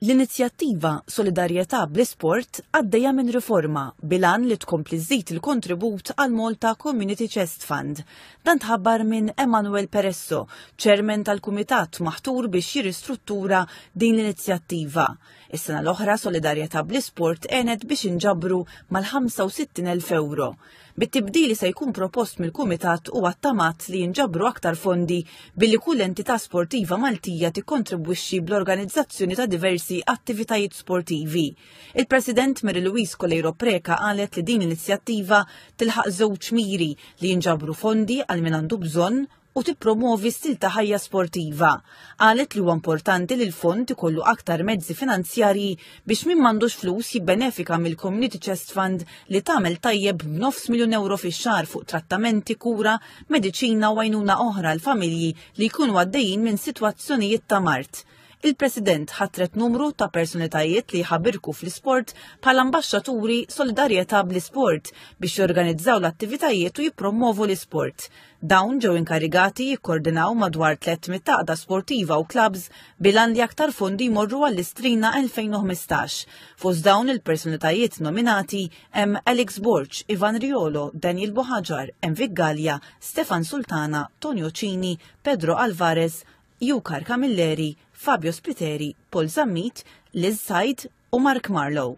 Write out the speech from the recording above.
L-inizjattiva Solidarjetà bl-Isport għaddejja minn riforma bilan li tkompli żżid il-kontribut għal Malta Community Chest Fund. Dan tħabbar minn Emanuel Peresso, ċermen tal-kumitat maħtur biex jirristruttura din l-inizjattiva. Is-sena l-oħra Solidarjetà bl-Isport għenet biex inġabru mal-65,000 euro. Bit-tibdil li se jkun propost mill-Kumitat huwa ttamat li jinġabru aktar fondi billi kull entità sportiva Maltija tikkontribwixxi bl-organizzazzjoni ta' diversi attivitajiet sportivi. Il-President Mary Louise Coleiro Preca qalet li din l-inizjattiva tilħaq żewġ miri li jinġabru fondi għal min għandu bżonn u tippromwovi stil ta' ħajja sportiva. Qalet li huwa importanti li l-fond ikollu aktar mezzi finanzjarji biex min m'għandux flus jibbenefika mill-Community Chest Fund li tagħmel tajjeb b'nofs miljun euro fix-xahar fuq trattamenti, kura, mediċina u għajnuna oħra l-familji li jkunu għaddejjin minn sitwazzjonijiet ta' mart. Il-President ħatret numru ta' personalitajiet li jħabirku fl-isport bħal ambaxxaturi solidarjetà bl-isport biex jorganizzaw l-attivitajiet u jippromovu l-isport. Dawn ġew inkarigati jikkordinaw madwar 300 taqda sportiva u klabs bilan li aktar fondi jmorru għall-Istrina 2015. Fost dawn il-personalitajiet nominati hemm Alex Borg, Ivan Riolo, Daniel Bohaġar, Envik Gallia, Stefan Sultana, Tonio Cini, Pedro Alvarez, Jukar Camilleri, Fabio Spiteri, Paul Zammit, Liz Said u Mark Marlow.